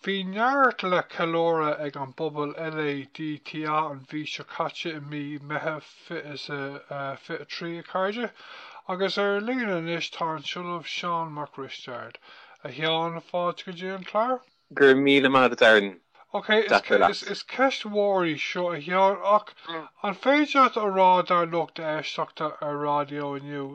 Bhí neart le ceiliúradh ag an bpobal LADTA an mhí seo caite i mí Meitheamh 2023, a chairde, agus ar líne anois tá an tOllamh Seán Mac Risteaird. A Sheáin, fáilte go dtí an clár. Go raibh míle maith agat, Aaron. Ok, is ceist mhór í seo, a Sheáin, ach an féidir leat a rá dár lucht éisteachta ar raidió inniu,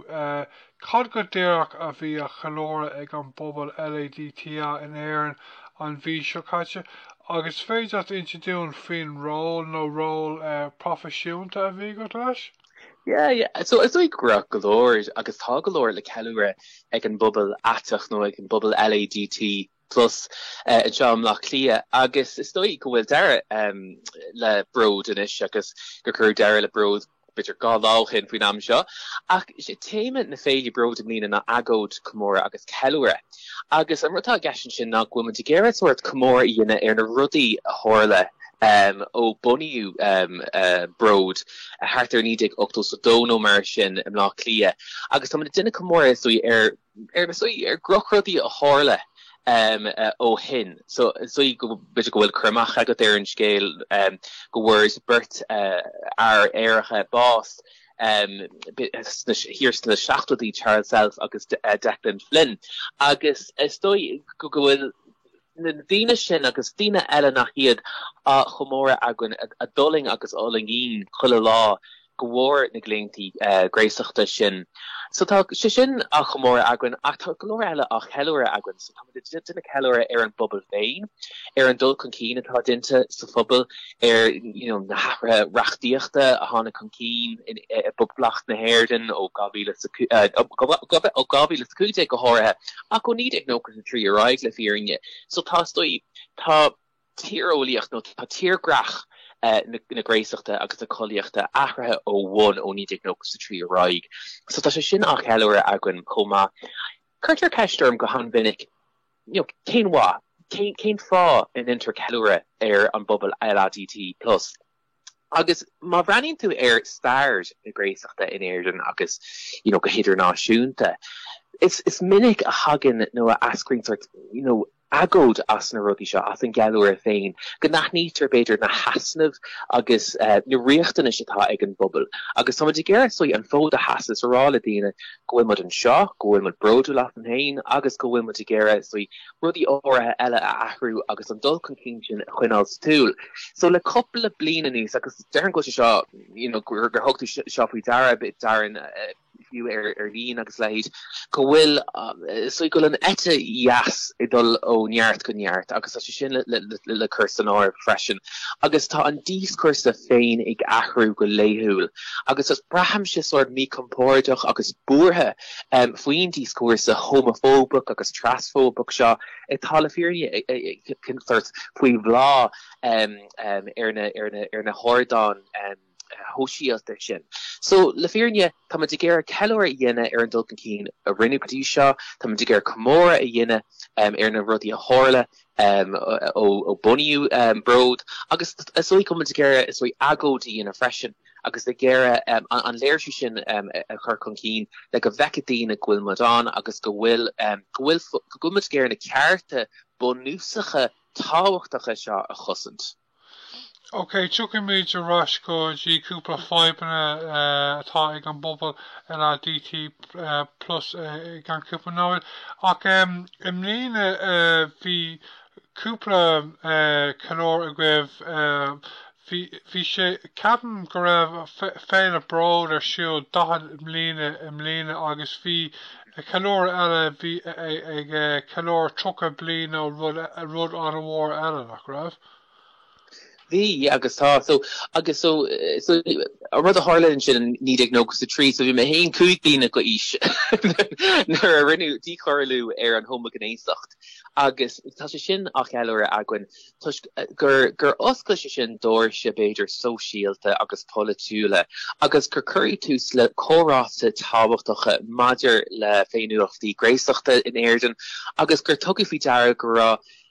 Cad go díreach a bhí á cheiliúradh ag an bpobal LADTA in Éirinn an mhí seo caite? Agus is féidir leat insint dúinn faoin ról nó róil proifisiúnta a bhí agat leis? Yeah, yeah. So is dóigh go raibh go leor agus tá go leor le ceiliúradh ag an bpobal aiteach nó ag an bpobal LADT Plus anseo i mBleá Cliath agus is dóigh go bhfuil deireadh le Bród anois agus gur cuireadh deireadh le Bród b'fhéidir dhá lá ó shin faoin am seo ach is é téama na féile Bród i mbliana ná agóid, comóradh agus ceiliúradh. Agus an rud atá i gceist ansin ná go bhfuil muid ag iarraidh sórt comóradh a dhéanamh ar na rudaí a tharla ó bunaíodh Bród thart ar 1982 nó mar sin i mBleá Cliath agus tá muid ag déanamh comóradh is dóigh ar ar saghas, ar dhrochrudaí a tharla ó shin, so saghas b'fhéidir go bhfuil cur amach agat ar an scéal go bhfuair beirt fhear aeracha bás thiar sna seachtóidí, Charles Self agus Declan Flynn, agus is dóigh go bhfuil na daoine sin agus daoine eile nach iad á chomóradh againn a d'fhulaing agus a fhulaingíonn chuile lá de bharr na gclaontaí gnéasachta sin. So tá sé sin á chomóradh againn ach tá go leor eile á cheiliúradh againn. So táimid ag déanamh ceiliúradh ar an bpobal féin, ar an dul chun cinn atá déanta sa phobal, ar na hathruithe reachtaíochta a tháinig chun cinn i bPoblacht na hÉireann ó dhá mhíle is a cú, ó dhá mhíle is a cúig déag go háirithe ach ó naoi déag nócha a trí ar aghaidh le fírinne. So tá stoi, tá tíreolaíocht nó tá tírdhreach na gnéasachta agus na collaíochta athraithe ó bhonn ó 1993 ar aghaidh. So tá sé sin á cheiliúradh againn chomh maith. Cuirtear ceist orm go han-mhinic, you know, cén mhaith, cén cén fáth a ndéantar ceiliúradh ar an bpobal LADT plus? Agus má bhreathnaíonn tú ar stair na gnéasachta in Éirinn agus, you know, go hidirnáisiúnta, is is minic a thagann nó a eascraíonn sórt, you know, agóid as na rudaí seo, as an gceiliúradh féin, go n-aithnítear, b'fhéidir, na heasnaimh agus na riachtanais atá ag an bpobal. Agus táimid ag iarraidh saghas an fód a sheasamh is a rá le daoine go bhfuil muid anseo, go bhfuil muid bródúil asainn féin agus go bhfuil muid ag iarraidh saghas rudaí áirithe eile a athrú agus an dul chun cinn sin a choinneáil sa tsiúl. So le cúpla bliain anuas, agus déarfainn go so you know gur gur thug tú seo faoi deara, b'fhéidir Darren, fiú ar ar líne agus a leithéid, go bhfuil so go bhfuil an eite dheas ag dul ó neart go neart agus tá sé sin le le le le cur san áireamh freisin. Agus tá an díoscúrsa féin ag athrú go laethúil agus braithimse sórt míchompordach agus buartha, Faoin díoscúrsa homafóbach agus trasfóbach seo atá le fírinne ag teacht faoi bhláth ar na hardáin shóisialta sin. So le fírinne tá muid ag iarraidh ceiliúradh a dhéanamh ar an dul chun cinn a rinneadh go dtí seo, tá muid ag iarraidh comóradh a dhéanamh ar na rudaí a tharla ó bunaíodh Bród agus is dóigh go bhfuil muid ag iarraidh agóid a dhéanamh freisin. agus ag iarraidh an léirsiú sin a chur chun cinn le go bhfeicfidh daoine go bhfuil muid ann agus go bhfuil go bhfuil go bhfuil muid ag iarraidh na cearta bunúsacha tábhachtacha seo a chosaint. Ok, tiocfaimid ar ais go dtí cúpla fadhbanna atá ag an bpobal LADT plus i gceann cúpla nóiméad. Ach i mbliana bhí cúpla ceiliúradh agaibh bhí bhí sé ceapaim go raibh féile Bród ar siúl daichead mbliana i mbliana agus bhí ceiliúradh eile bhí ag ceiliúradh tríocha bliain ó rud rud an-mhór eile nach raibh Bhí agus tá. So, agus so, so, an rud a tharla ansin in naoi déag nócha is a trí, so bhí mé féin cúig bliana d'aois nuair a rinneadh díchoiriú ar an homaighnéasacht agus tá sé sin á cheiliúradh againn toisc gur, gur oscail sé sin doirse, b'fhéidir, sóisialta agus polaitiúla agus gur cuireadh tús le comhráite tábhachtacha maidir le féiniúlachtaí gnéasachta in Éirinn agus gur tugadh faoi deara go raibh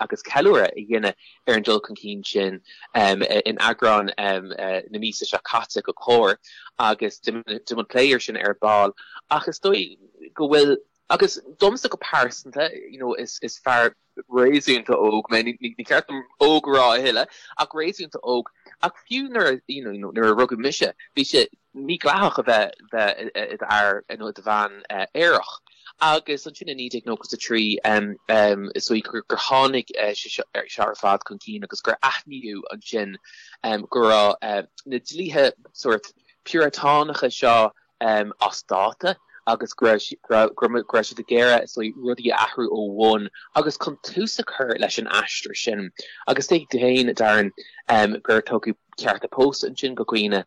agus ceiliúradh a dhéanamh ar an dul chun cinn sin in eagrán na míosa seo caite de Comhar agus déanfaidh muid plé air sin ar ball ach is dóigh go bhfuil agus domsa go pearsanta you know is is fear réasúnta óg mé ní ní ceart dom óg a rá a thuilleadh ach réasúnta óg ach fiú nuair you know nuair a rugadh mise bhí sé mídhleathach a bheith bheith i d'fhear nó i do bhean aerach agus ansin i 1993 is dóigh gur tháinig sé seo ar ar fad chun cinn agus gur aithníodh ansin go raibh na dlíthe sórt piúratánacha seo as dáta agus go raibh go raibh siad ag iarraidh is dóigh rudaí a athrú ó bhonn agus chun tús a chur leis an aistear sin agus tuigeann tú féin Darren gur tugadh cearta pósta ansin do dhaoine.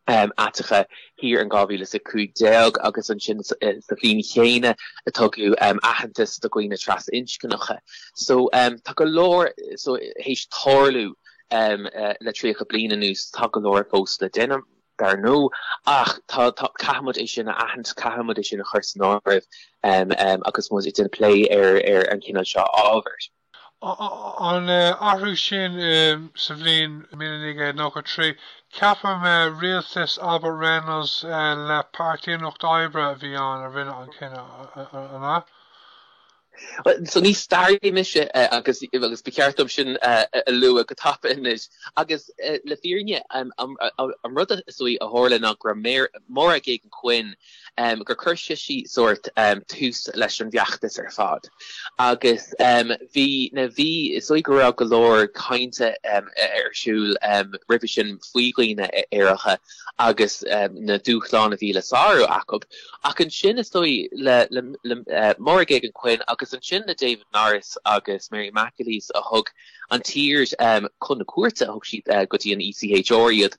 aiteacha thiar in 2015 agus ansin sa bhliain chéanna a tugadh aitheantas do dhaoine trasinscneacha. So tá go leor, so théis tarlú le 30 bliain anuas tá go leor fós le déanamh, dar ndó, ach tá, caithfimid é sin a aithint, caithfimid é sin a chur san áireamh agus muid ag déanamh plé ar an gcineál seo ábhair. An athrú sin sa bhliain 1993, cheap mé rialtas Albert Reynolds le Páirtí an Lucht Oibre a bhí ann a rinne an cinneadh, an ea? So ní staraí mise agus agus ba cheart dom sin a lua go tapa anois. Agus le fírinne an rud is suimiúla a tharla ná gurb í Máire Geoghegan Quinn gur chuir sise sórt tús leis an bhfeachtas ar fad agus bhí na bhí is dóigh go raibh go leor cainte ar siúl roimhe sin faoi dhaoine aeracha agus na dúshláin a bhí le sárú acu ach ansin is dóigh le Máire Geoghegan Quinn agus ansin le David Norris agus Mary McAleese a thug an tír chun na cúirte, thug siad go dtí an ECHR iad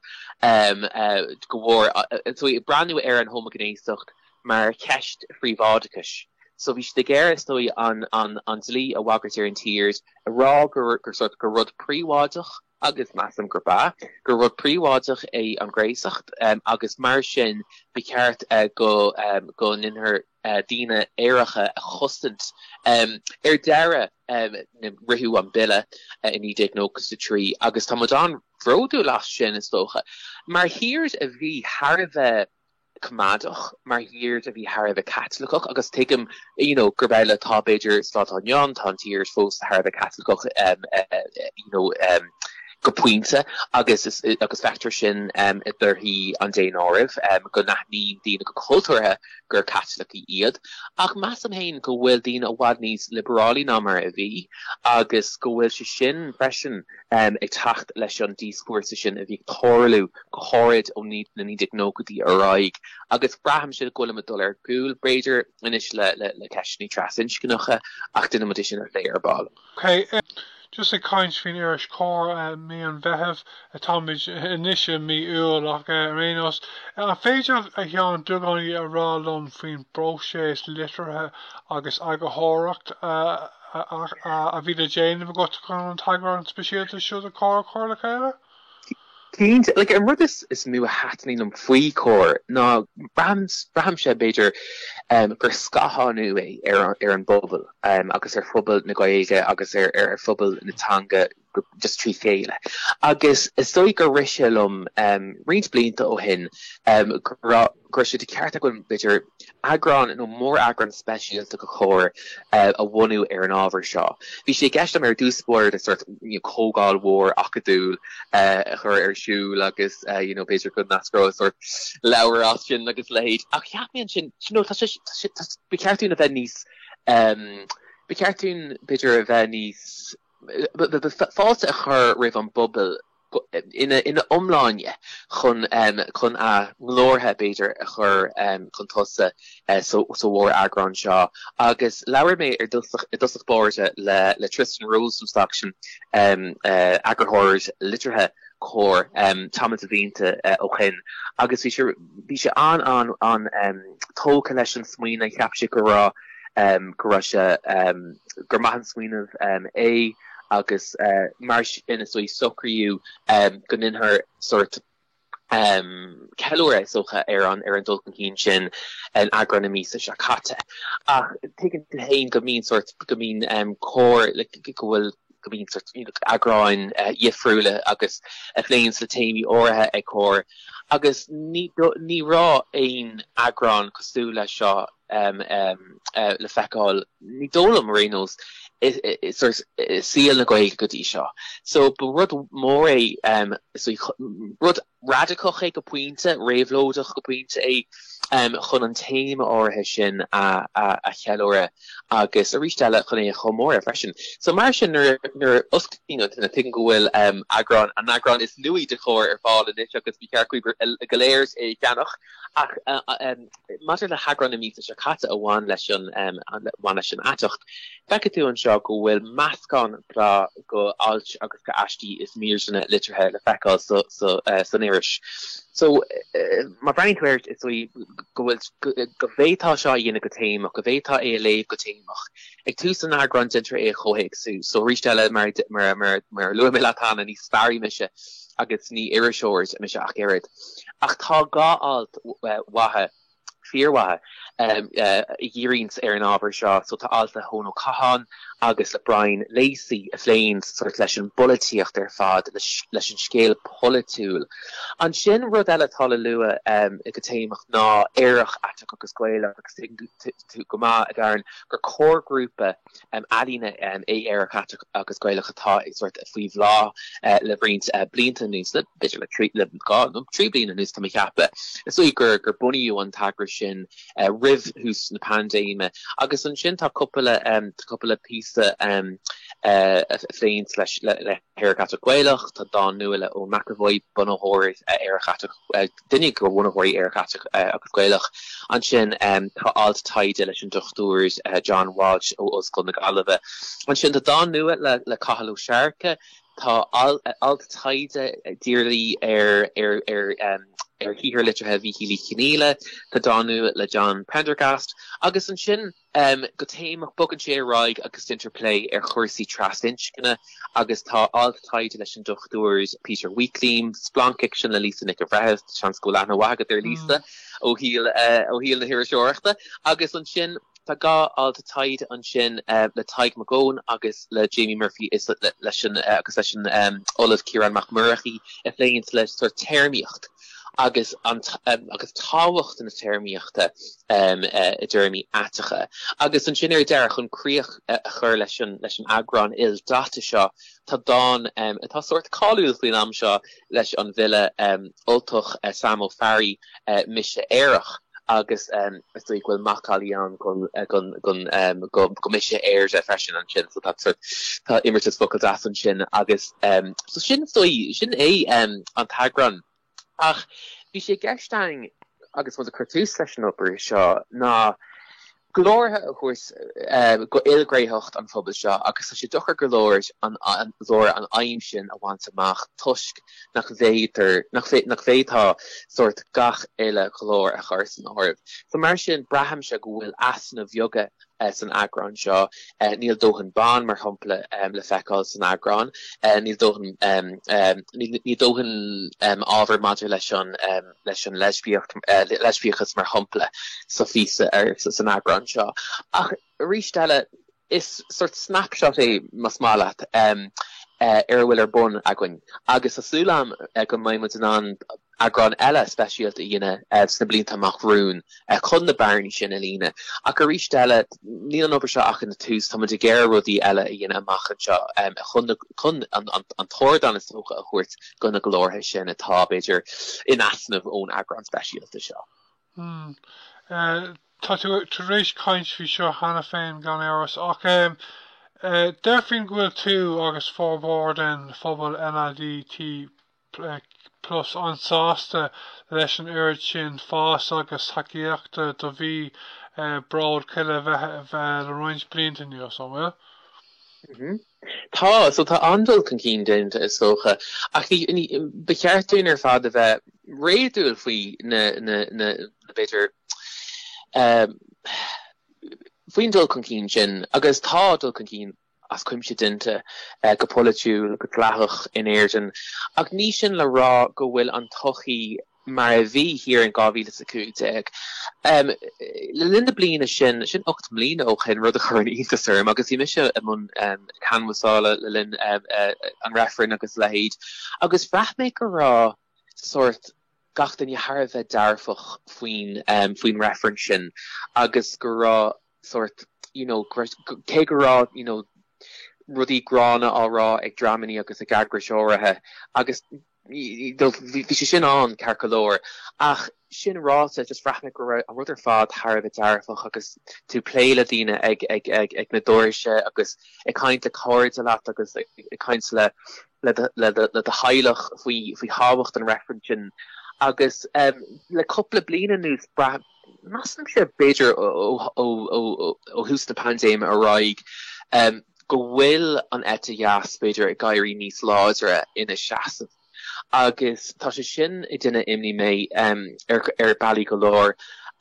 go bhfuil siad ag breathnú ar an homaighnéasacht mar cheist phríobháideachais. So bhí siad ag iarraidh so an dlí a bhagairt ar an tír, a rá gur sort gur rud príobháideach, agus measaim gurb ea, gur rud príobháideach é an gnéasacht agus mar sin ba cheart go ndéanfaí daoine aeracha a chosaint. Ar deireadh, ritheadh an Bille i 1993 agus tá muid an-bhródúil as sin, is dócha. Mar thír a bhí thar a bheith coimeádach, mar thír a bhí thar a bheith Caitliceach, agus tuigim you know gurb amhlaidh atá b'fhéidir sa lá atá inniu ann, tá an tír fós thar a bheith Caitliceach you know go pointe agus agus feictear sin i dtorthaí an daonáirimh go n-aithníonn daoine go cultúrtha gur Caitlicigh iad, ach measaim féin go bhfuil daoine i bhfad níos liobarálaí ná mar a bhí agus go bhfuil sé sin freisin ag teacht leis an díoscúrsa sin a bhí ag tarlú go háirid ó na 1990idí ar aghaidh agus braithimse go bhfuilimid ag dul ar gcúl, b'fhéidir, anois le ceisteanna trasinscneacha ach déanfaimid é sin a phlé ar ball. OK agus ag caint faoin iris Comhar mí an Mheithimh, táimid anois i mí Iúil ach ar aon nós, an féidir leat beagáinín a rá liom faoin bpróiseas litrithe agus eagarthóireachta a bhí le déanamh agat chun an t-eagrán speisialta seo de Comhar a chur le chéile? Cinnte. Like, an rud is, is mó a thaitníonn liom faoi Comhar ná braithim, braithim|, b'fhéidir, um, gur scáthánú é ar, ar an bpobal um, agus ar phobal na Gaeilge agus ar, ar, ar phobal na teanga just trí chéile. Agus is dóigh gur rise liom um, roinnt blianta ó shin um, gur, go raibh sé de cheart againn b'fhéidir eagrán nó móreagrán speisialta de Comhar a bhunú ar an ábhar seo. Bhí sé i gceist agam ar dtús báire sort comhdháil mhór acadúil a chur ar siúl agus you know b'fhéidir go n-eascródh sort leabhar as sin agus a leithéid ach cheap mé ansin you know tá sé ba cheart dúinn a bheith níos um, ba cheart dúinn b'fhéidir a bheith níos fáilte a chur roimh an bpobal ina iomláine chun chun a nglórtha, b'fhéidir, a chur chun tosaigh sa mhóreagrán seo. Agus labhair mé ar dtosach báire le Tristan Rosenstock, eagarthóir liteartha Comhar, tamall de bhlianta ó shin agus bhí, bhí sé an-tógtha leis an smaoineamh. Cheap sé go raibh, go raibh sé, gur maith an smaoineamh é. agus mar sin is dóigh socraíodh go ndéanfaí sórt ceiliúradh, is dócha, ar an dul chun cinn sin in eagrán na míosa seo caite. Ach tuigeann tú féin go mbíonn sórt, go mbíonn Comhar, like, go bhfuil, go mbíonn sórt, you know, eagráin dhifriúla agus a phléann le téamaí áirithe ag Comhar agus ní, ní raibh aon eagrán cosúil leis seo le feiceáil Ní dóigh liom, ar aon nós, i saol na Gaeilge go dtí seo. So, ba rud mór é, rud radacach é go pointe, réabhlóideach go pointe é chun an téama áirithe sin a cheiliúradh agus arís eile chun é a chomóradh freisin. So, mar sin, nuair a osclaíonn duine, tuigim go bhfuil eagrán, an t-eagrán is nuaí de Chomhar ar fáil anois agus ba cheart daoibh go léir é a cheannach. Ach maidir le heagrán na míosa seo caite a bhain leis an, a bhain leis an aiteacht, feicfidh tú anseo go bhfuil meascán breá de ailt agus de aistí is míreanna liteartha le feiceáil san iris. So, má breathnaíonn tú air is go bhfuil, go bhféadfá seo a dhéanamh go téamach, go bhféadfá é a léamh go téamach, Ag tús an eagráin déantar é a chomhthéacsú. So, arís eile, mar a luaigh mé leat cheana, ní staraí mise agus ní iriseoir mise ach oiread. Ach tá dhá alt mhaithe, fíormhaithe, a dhíríonns ar an ábhar seo. So, tá alt le hEoin Ó Catháin agus le Brian Lacey a phléann sort leis an bpolaitíocht ar fad, leis an scéal polaitiúil. Ansin, rud eile atá le lua go téamach ná Aerach, Aiteach agus Gaelach agus tú go maith, a Darren, gur comharghrúpa ealaíne é Aerach Aiteach agus Gaelach atá ag sort faoi bhláth le roinnt blianta anuas, le b'fhéidir le trí, le dhá nó trí bliana anuas tá mé ag ceapadh. Is dóigh gur gur bunaíodh an t-eagras sin roimh thús na paindéime agus ansin tá cúpla tá cúpla píosa a phléann leis le hAerach Aiteach Gaelach, tá dán nua le Eoin McEvoy, bunaitheoir Aerach Aiteach duine de bhunaitheoirí Aerach Aiteach agus Gaelach. Ansin tá alt taighde leis an Dr John Walsh ó Ollscoil na Gaillimhe. Ansin tá dán nua le le Cathal Ó Searcaigh, Tá alt taighde dírithe ar ar ar um, ar shaothar liteartha Mhíchíl Uí Chonghaile, Tá dán nua le John Prendergast agus ansin um go téamach, bogann sé ar aghaidh agus déantar plé ar chúrsaí trasinscne agus tá alt taighde leis an Dr Peter Weakliam, splancfhicsean le Lisa Nic an Bhreithimh, seans go bhfuil aithne mhaith agat ar Lisa ó shaol ó shaol na hiriseoireachta, agus ansin tá dhá alt taighde ansin le Tadhg Mac Eoghain agus le Jamie Murphy is leis an agus leis an Ollamh Ciarán Mac Murchaidh a phléann le sort téarmaíocht. agus an agus tábhacht na téarmaíochta i dtéarmaí aiteacha. Agus ansin ar deireadh, chun críoch a chur leis an leis an eagrán ildaite seo, tá dán atá sórt cáiliúil faoin am seo leis an bhfile Ultach Sam Ó Fearraigh, Mise Aerach. agus is dóigh go bhfuil macallaí ann go Mise Éire freisin ansin, so tá sort tá imeartas focal deas ansin agus so sin is dóigh sin é an t-eagrán ach bhí sé i gceist againn agus rud a chuir tús leis an obair seo ná glórtha a thabhairt do ilghnéitheacht an phobail seo agus tá sé deacair go leor an aidhm sin a bhaint amach toisc nach bhféadtar nach bhféadfá sórt gach uile ghlór a chur san áireamh. So mar sin braithimse go bhfuil easnaimh bheaga san eagrán seo. Níl dóthain ban mar shampla le feiceáil san eagrán. Níl dóthain níl dóthain ábhar maidir leis an leis an leispiacht, leispiachas mar shampla sa phíosa ar san eagrán seo. Ach arís eile, is sort snapshot é, más maith leat, ar a bhfuil ar bun againn agus tá súil agam go mbeidh muid in ann eagrán eile speisialta a dhéanamh sna blianta amach romhainn. chun na bearnaí sin a líonadh. Ach arís eile, níl an obair seo ach ina tús. Táimid ag iarraidh rudaí eile a dhéanamh amach anseo chun an t-ardán is dócha a thabhairt do na glórtha sin atá, b'fhéidir, in easnamh ón eagrán speisialta seo. Tá tú tar éis caint faoi seo cheana féin, gan amhras, ach déarfainn go bhfuil tú agus formhór den phobal LADT Tusa an-sásta leis an oiread sin fáis agus tacaíochta do mhí an bhróid chuile bheith, a bheith le roinnt blianta anuas, an bhfuil? Tá, so tá an-dul chun cinn déanta is dócha ach ba cheart dúinn ar fad a bheith réadúil faoi ná b'fhéidir faoin dul chun cinn sin agus tá dul chun cinn as cuimse déanta go polaitiúil, go dleathach in Éirinn, ach ní sin le rá go bhfuil an tsochaí mar a bhí thiar in 2015. Le linn na bliana sin, sin ocht mbliana ó shin, rud a chuireann iontas orm agus bhí mise i mbun canbhasála le linn an reifrinn agus a leithéid agus bhraith mé go raibh sórt gach duine thar a bheith dearfach faoin faoin reifreann sin agus go raibh sórt you know cé go raibh you know rudaí gránna á rá ag dreamannaí agus ag eagrais áirithe agus you know bhí sé sin ann ceart go leor ach sin ráite just bhraith mé go raibh an rud ar fad thar a bheith dearfach agus tú ag plé le daoine ag ag ag ag na doirse agus ag caint le cairde leat agus ag caint le le do le do le do theaghlach faoi faoi thábhacht an reifreann sin agus um, le cúpla bliain anuas Measaimse, b'fhéidir ó thús na paindéime ar aghaidh, go bhfuil an eite dheas, b'fhéidir, ag éirí níos láidre ina seasamh agus tá sé sin ag cur imní orm ar bealaí go leor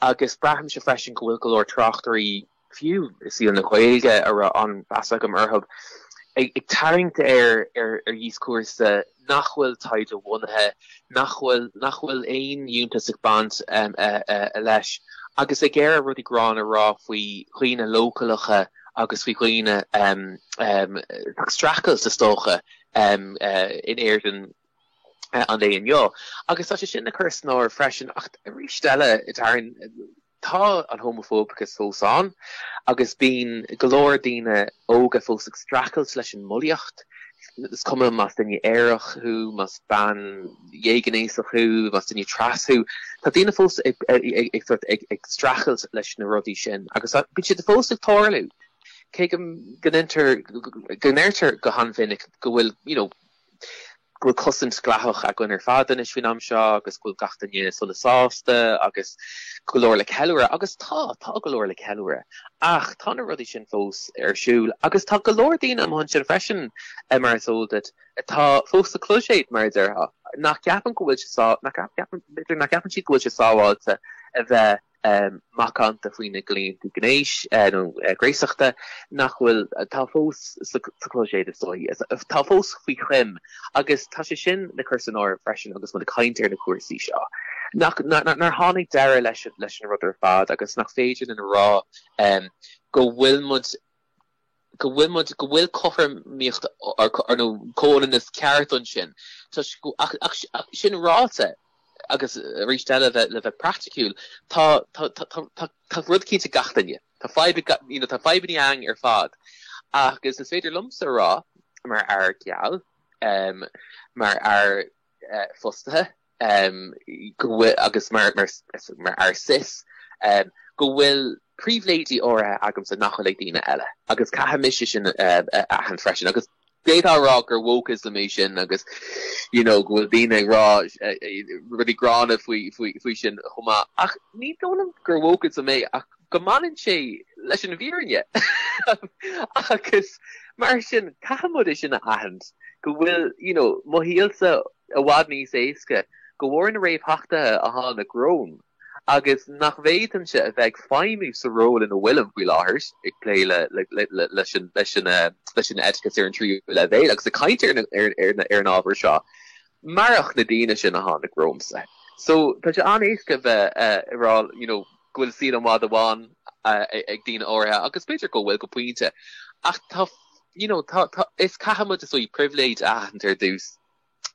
agus braithimse freisin go bhfuil go leor tráchtairí fiú i saol na Gaeilge a raibh an-mheas agam orthu. Ag tarraingt ar dhíoscúrsa nach bhfuil taighde-bhunaithe, nach bhfuil, nach bhfuil aon fhiúntas ag baint leis, agus ag iarraidh rudaí gránna a rá faoi dhaoine leochaileacha agus faoi dhaoine ag streachailt, is dócha, in Éirinn an lae inniu. Agus tá sé sin le cur san áireamh freisin, ach arís eile, Tá an homafóbachas fós ann agus bíonn go leor daoine óga fós ag streachailt leis an mbulaíocht. Is cuma más duine aerach thú, más bean dhéghnéasach thú, más duine tras thú, tá daoine fós ag streachailt leis na rudaí sin agus bíonn siad fós ag tarlú. Cé go ndéantar, go ndeirtear go han-mhinic go bhfuil go bhfuil cosaint dhleathach againn ar fad anois faoin am seo agus go bhfuil gach duine sona sásta agus go leor le ceiliúradh, agus tá, tá go leor le ceiliúradh, ach tá na rudaí sin fós ar siúl agus tá go leor daoine amuigh ansin freisin, mar is eol duit, atá fós sa chlóiséad, mar a déarfá, nach gceapann go bhfuil siad, nach gceapann, nach gceapann siad go bhfuil sé sábháilte a bheith macánta faoi na gclaonta gnéis nó gnéasachta nach bhfuil, atá fós sa chloiséad is dócha, atá fós faoi choim agus tá sé sin le cur san áireamh freisin agus muid ag caint ar na cúrsaí seo nach, nár tháinig deireadh leis an rud ar fad agus nach féidir linn a rá go bhfuil muid go bhfuil muid, go bhfuil cothromaíocht ann, nó comhionannas ceart ansin toisc go, ach, ach, ach sin ráite, agus arís eile le, le bheith praiticiúil, tá, tá, tá, tá, tá, tá rud cinnte ag gach duine, tá fadhb ag gach, you know, tá fadhbanna againn ar fad agus is féidir liomsa a rá, mar fhear geal, mar fhear fostaithe, go bhfuil, agus mar fhear cis, go bhfuil pribhléidí áirithe agamsa nach bhfuil ag daoine eile agus caithfidh mise sin a aithint freisin agus d'fhéadfá a rá gur wokeism é sin agus you know go bhfuil daoine ag rá rudaí gránna faoi sin chomh maith ach ní dóigh liom gur wokeism é ach go mbaineann sé leis an bhfírinne agus mar sin caithfidh muid é sin a aithint go bhfuil you know mo shaolsa i bhfad níos éasca de bharr na réamhtheachtaithe a tháinig romham, agus nach bhféadfainnse, a bheith ag feidhmiú sa ról ina bhfuilim faoi láthair, ag plé leis an oideachas ar an tríú leibhéal agus ag caint ar an ábhar seo, marach na daoine sin a tháinig romhamsa. So, tá sé an-éasca a bheith ag rá you know go bhfuil saol i bhfad amháin ag daoine áirithe, agus b'fhéidir go bhfuil go pointe, ach tá you know tá, tá, is caithfimid ár bpribhléid a aithint ar dtús.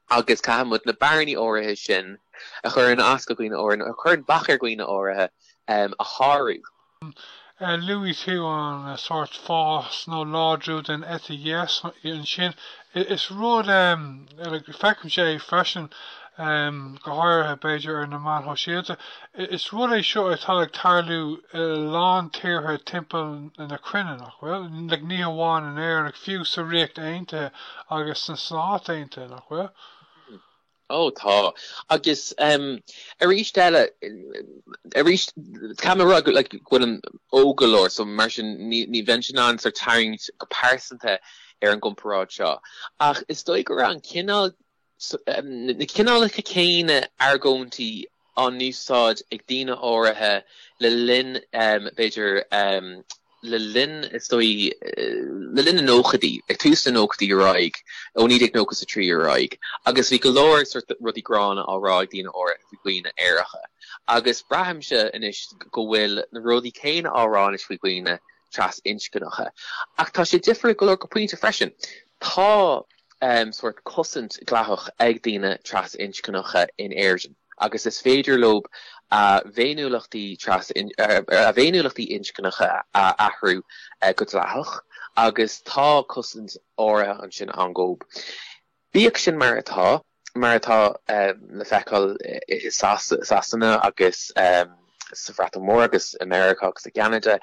agus caithfimid na bearnaí áirithe sin a chuireann as do dhaoine áirithe, a chuireann bac ar dhaoine áirithe, a shárú. Luaigh tú an sórt fás nó láidriú den eite dheas ansin? Is rud, feicimse é freisin, go háirithe b'fhéidir ar na meáin shóisialta, Is rud é seo atá ag tarlú i a lán tíortha timpeall na cruinne, nach bhfuil? Like, ní hamháin in Éirinn, like, fiú sa Ríocht Aontaithe agus sna Stáit Aontaithe, nach bhfuil? Ó, tá. Agus, em, arís eile, arís, ceapaim a rá go, like, go bhfuilim óg go leor, so mar sin ní, nílim in ann sort tarraingt go pearsanta ar an gcomparáid seo. Ach is dóigh go raibh an cineál, na cineálacha céanna argóintí á n-úsáid ag daoine áirithe le linn, b'fhéidir, le linn, is dóigh, le linn na nóchaidí, ag tús na nóchaidí ar aghaidh, ó 1993 ar aghaidh, agus bhí go leor sort rudaí gránna á rá ag daoine áirithe faoi dhaoine aeracha. Agus braithimse anois go bhfuil na rudaí céanna á rá anois faoi dhaoine trasinscneacha. Ach tá sé difriúil go leor go pointe freisin. Tá sórt cosaint dleathach ag daoine trasinscneacha in Éirinn agus is féidir leo a bhféiniúlachtaí a bhféiniúlachtaí inscneacha a athrú go dleathach agus tá cosaint áirithe ansin ann. Bíodh sin mar atá, mar atá le feiceáil i Sasana agus sa Bhreatain Mhór agus i Meiriceá agus i gCeanada,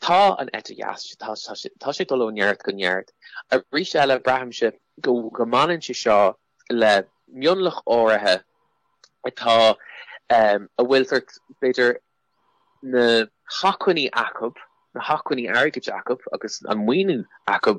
tá an eite dheas, tá sé ag dul ó neart go neart. Arís eile, braithimse go mbaineann sé seo le mionlach áirithe atá, a bhfuil sórt, b'fhéidir, na hacmhainní acu, na hacmhainní airgid acu agus an maoiniú acu,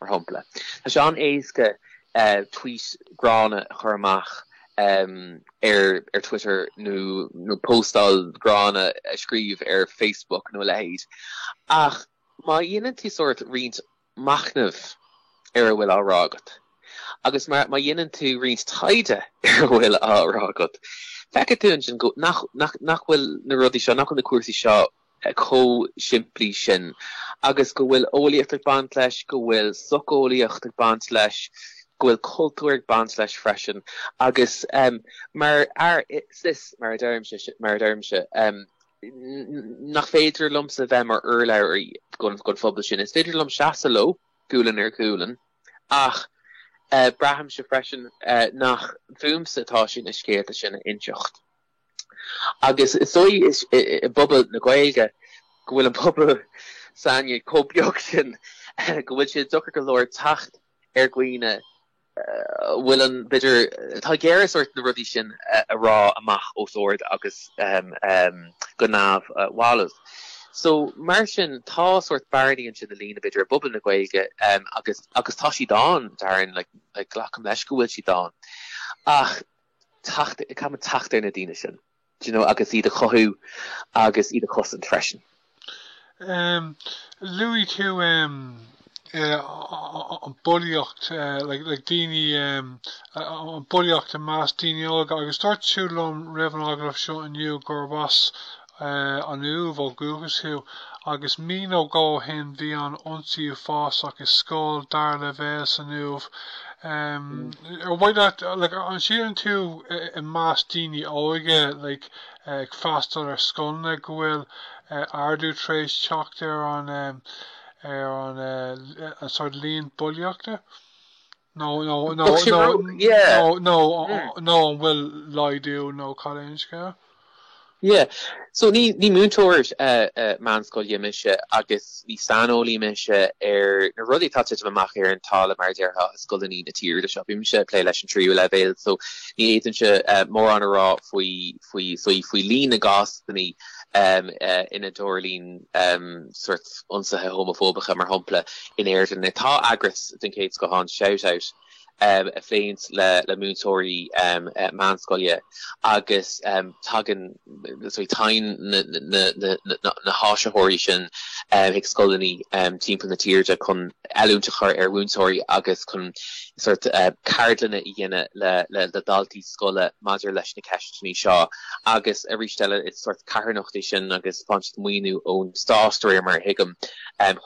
mar shampla. Tá sé an-éasca tvuít ghránna a chur amach ar Twitter nó póstáil ghránna a scríobh ar Facebook nó a leithéid ach má dhéanann tú sórt roinnt machnaimh ar a bhfuil á rá agat agus má dhéanann tú roinnt taighde ar a bhfuil á rá agat, feicfidh tú ansin nach bhfuil na rudaí seo, nach bhfuil na cúrsaí seo chomh simplí sin agus go bhfuil eolaíocht ag baint leis, go bhfuil socheolaíocht ag baint leis, go bhfuil cultúr ag baint leis freisin agus mar fhear cis, mar a deirimse, mar a deirimse, nach féidir liomsa bheith mar urlabhraí don phobal sin, is féidir liom seasamh leo gualainn ar ghualainn ach braithimse freisin nach fúmsa atá sé na scéalta sin a inseacht. Agus is dóigh i bpobal na Gaeilge go bhfuil an pobal s'againne chomh beag sin go bhfuil sé deacair go leor teacht ar dhaoine a bhfuil an, b'fhéidir, atá ag iarraidh sórt na rudaí sin a rá amach os ard agus go neamhbhalbh. So mar sin tá sórt bearnaí ansin i líne, b'fhéidir, i bpobal na Gaeilge agus tá siad ann, dar ndóigh, glacaim leis go bhfuil siad ann ach, teacht, ag caitheamh teacht ar na daoine sin, do you know, agus iad a chothú agus iad a chosaint freisin. Luaigh tú an bulaíocht, like, like, daoine, an bulaíocht i measc daoine óga, agus dúirt tú liom roimh an agallamh seo inniu gurb as an Uaimh ó dhúchas thú, agus mí nó dhó ó shin bhí an ionsaí uafásach i scoil dara leibhéal san Uaimh, ar mhaith leat, like, an síleann tú i measc daoine óga, like, ag freastal ar scoileanna go bhfuil ardú tar éis teacht ar an, ar an, an sort líon bulaíochta? nó an bhfuil laghdú nó cad é an scéal? Yeah, so ní múinteoir meánscoile mise agus ní saineolaí mise ar na rudaí atá titim amach ar an talamh mar a déarfá i scoileanna na tíre seo. Bímse ag plé leis an tríú leibhéal so ní fhéadfaimse mórán a rá faoi faoi líon na gcásanna ina dtarlaíonn sórt ionsaithe homafóbacha, mar shampla, in Éirinn. Tá eagras den chéad scoth ann, Shout Out, a phléann le múinteoirí meánscoile agus tagann na háisitheoirí sin chuig scoileanna timpeall na tíre chun oiliúint a chur ar mhúinteoirí agus chun ceardlanna a dhéanamh le daltaí. scoile maidir leis na ceisteanna seo. Agus arís eile, is sort carthanacht é sin agus faigheann siad maoiniú ón Stát, de réir mar a thuigim,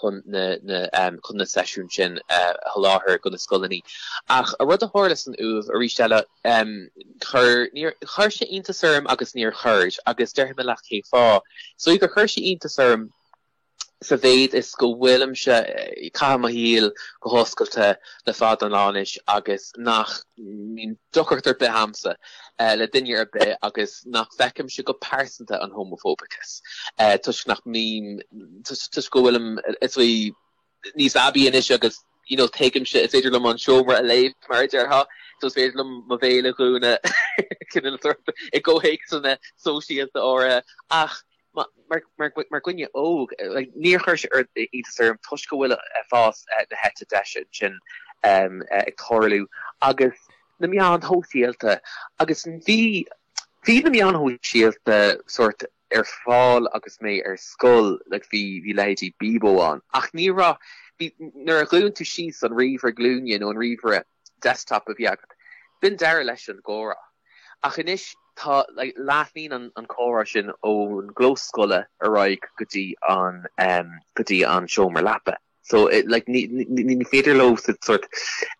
chun na seisiúin sin a sholáthar do na scoileanna. Ach an rud a tharla san Uaimh, arís eile, chuir, níor, chuir sé iontas orm agus níor chuir, agus déarfaidh mé leat cé fáth. Is dóigh gur chuir sé iontas orm, Sa mhéid is go bhfuilimse, ag caitheamh mo shaol go hoscailte le fada an lá anois agus nach mbíonn deacracht ar bith agamsa le duine ar bith agus nach bhfeicimse go pearsanta an homafóbachas toisc nach mbím, toisc go bhfuilim is dóigh níos aibí anois agus you know tuigimse is féidir liom an seomra a léamh mar a déarfá, so is féidir liom mo bhéal a dhúnadh i gcomhthéacsanna sóisialta áirithe ach mar dhuine óg, níor chuir sé iontas orm toisc go bhfuil fás na heite deise ansin ag tarlú agus na meáin shóisialta agus bhí bhí na meáin shóisialta sort ar fáil agus mé ar scoil like bhí bhí leithéidí Bebo ann ach ní raibh bhí nuair a dhún tú síos an ríomhaire glúine nó an ríomhaire desktop a bhí agat. B'in deireadh leis an gcomhrá. Ach anois tá, like, leathnaíonn an, an comhrá sin ón gclós scoile ar aghaidh go dtí an, em, go dtí an seomra leapa. So, it, like, ní, ní, ní féidir leosan sort,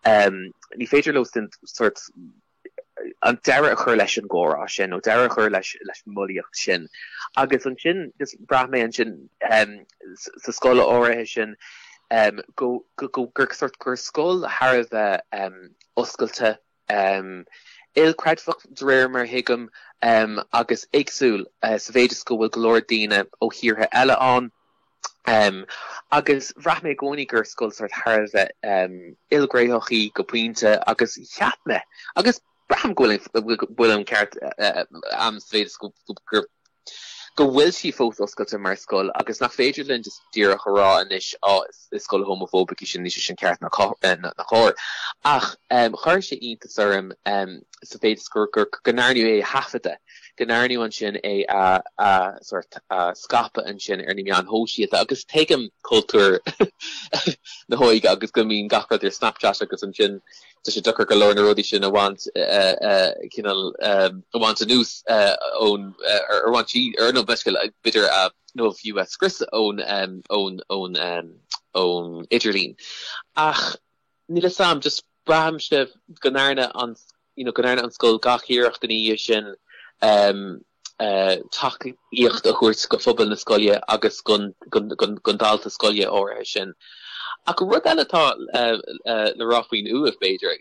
em, ní féidir leosan sort, an deireadh a chur leis an gcomhrá sin nó deireadh a chur leis, leis an mbulaíocht sin. Agus ansin, just, bhraith mé ansin, em, sa, sa scoil áirithe sin, go, go, go, gur sort, gur scoil thar a bheith oscailte, ilchreidmheach de réir mar a thuigim, agus éagsúil sa mhéid is go bhfuil go leor daoine ó thíortha eile ann. Agus bhraith mé i gcónaí gur scoil sort thar a bheith ilghnéitheach í go pointe agus cheap mé, agus Braithim go bhfuil an ceart ann sa mhéid is go bhfuil sí fós oscailte mar scoil agus nach féidir linn just díreach a rá anois á is scoil homafóbach í sin níl sé sin ceart ná cóir. Ach chuir sé iontas orm sa mhéid is go ndearnadh é a thaifeadadh, go ndearnadh ansin é a sort a scaipeadh ansin ar na meáin shóisialta agus tuigim cultúr na hóige agus go mbíonn gach rud ar Snapchat agus ansin Tá sé deacair go leor na rudaí sin a bhaint cineál a bhaint anuas ón bhaint ar an bhfeiscint b'fhéidir nó fiú a scrios ón ón ón idirlíon. Ach níl a fhios am just braithimse go ndearna an you know go ndearna an scoil gach iarracht ina dhiaidh sin tacaíocht a thabhairt go phobal na scoile agus gon dalta scoile áirithe sin. Ach rud eile atá le rá faoin Uaimh b'fhéidir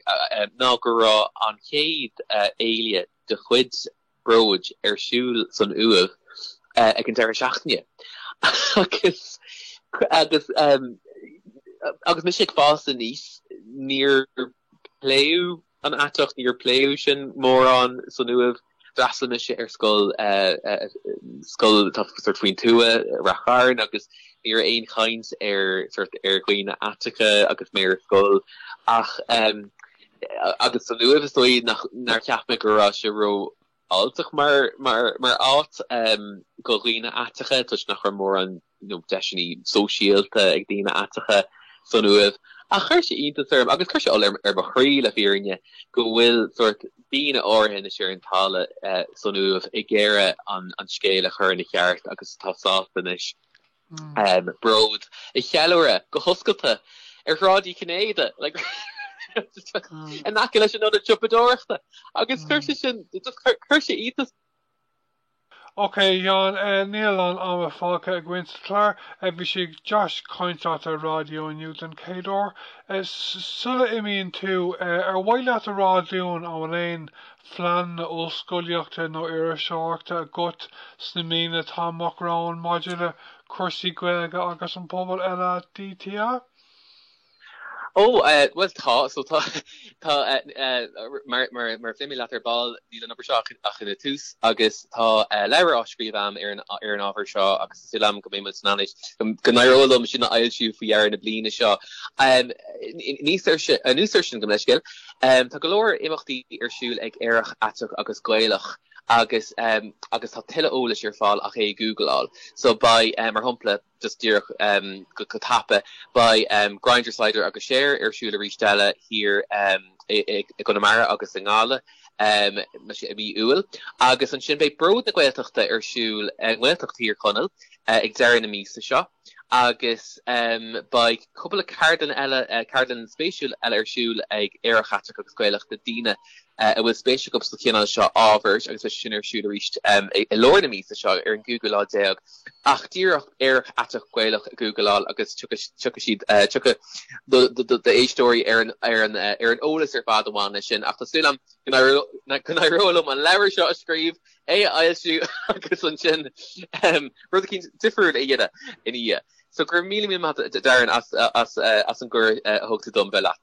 ná go raibh an chéad fhéile de chuid Bróid ar siúl san Uaimh ag an deireadh seachtaine agus agus agus mise ag fás aníos níor pléadh An aiteacht, níor pléadh sin mórán san Uaimh. D'fhreastail mise ar scoil, scoil atá sort faoin tuath, Ráth Chairn agus ní raibh aon chaint ar sort ar dhaoine aiteacha agus mé ar scoil ach agus san Uaimh is dóigh nach nár cheap mé go raibh sé ró fháilteach mar áit do dhaoine aiteacha toisc nach raibh mórán deiseanna sóisialta ag daoine aiteacha san Uaimh. Ach chuir sé iontas orm, agus chuir sé ola ar mo chroí le fírinne, go bhfuil sórt daoine áirithe, anois ar an talamh san Uaimh, ag iarraidh an scéal a chur ina cheart agus tá sásta anois, Bród, a cheiliúradh, go hoscailte, ar Shráid Uí Chinnéide, in aice leis an ionad siopadóireachta, agus chuir sé sin, chuir sé iontas. Ok Sheáin, níl a lán ama fágtha againn sa chlár. Bhí sé go deas caint leat ar an raidió inniu den chéad uair. Sula n-imíonn tú, ar mhaith leat a rá dúinn an bhfuil aon phleananna ollscolaíochta nó iriseoireachta agat sna míonna atá amach romhainn maidir le cúrsaí Gaeilge agus an pobal LADT? Ó, bhuel, tá, so tá, tá, mar, mar, mar a luaigh mé leat ar ball níl an obair seo ach ina tús agus tá leabhar á scríobh am ar an, ar an ábhar seo agus Súil agam go mbeidh mé in ann anois, go n-éireoidh liom sin a fhoilsiú faoi dheireadh na bliana seo. Anuas air sin, gabh mo leithscéal, tá go leor imeachtaí ar siúl ag Aerach, Aiteach agus Gaelach agus agus tá tuilleadh eolais ar fáil ach é a gúgláil. So beidh, mar shompla, just díreach go tapa, beidh Grindr, Cider agus Cher ar siúl arís eile thiar i gConamara agus i nGaillimh. i mí Iúil, agus ansin beidh Bród na Gaeltachta ar siúl i nGaeltacht Thír Chonaill ag deireadh na míosa seo agus beidh cúpla ceardlann eile, ceardlann spéisiúil eile ar siúl ag Aerach Aiteach agus Gaelach do daoine a bhfuil spéis acu sa chineál seo ábhair agus beidh sé sin ar siúl arís i lár na míosa seo ar an gcúigiú lá déag ach díreach Aerach Aiteach Gaelach a ghúgláil agus tiocfaidh siad, tiocfaidh d'éisteoirí ar an eolas ar fad a bhain leis sin. Ach tá súil agam go n-éireoidh liom an leabhar seo a scríobh, é a fhoilsiú agus ansin rud éicint difriúil a dhéanamh ina dhiaidh. So go raibh míle míle maith agat Darren as an gcuireadh a thug tú dom bheith leat.